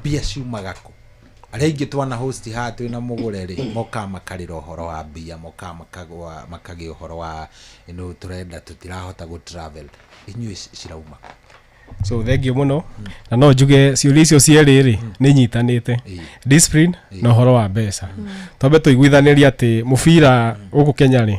mbia ciumaga kũ arĩa aingĩ twana host haha twĩ na mũgũre rĩ mokaga makarĩra ũhoro wa mbia mokaga makagwa makagĩa ũhoro wa no tũrenda tũtirahota gũ travel inyuĩ ci- cirauma kũ? so thengiå må no na no njuge ciå icio cierä rä nä inyitanä Ĩĩ. discipline na å horo wa mbeca twambe tå iguithanä ria atä må bira gå kå kenya rä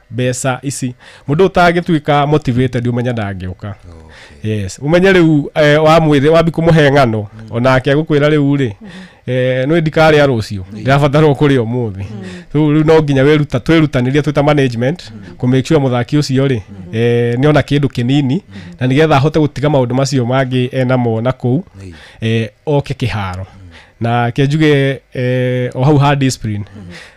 mbeca ici mundu utangituika motivated umenya ndangĩũka yes umenye rĩu eh, wamwĩthĩ wambi kũmũhe ng'ano onake agũkwĩra rĩu rĩ eh, nĩ ndikarĩa rũciũ ndĩrabatarwo kũrĩa ũmũthĩ rĩu rĩu no nginya wĩruta twĩrutanĩrie twĩta management kũ make sure mũthaki ũcio rĩ eh, nĩ ona kĩndũ kĩnini na nĩgetha ahote gũtiga maũndũ macio mangĩ enamo na kũu eh, oke kĩharo na ke njuge eh, o hau ha discipline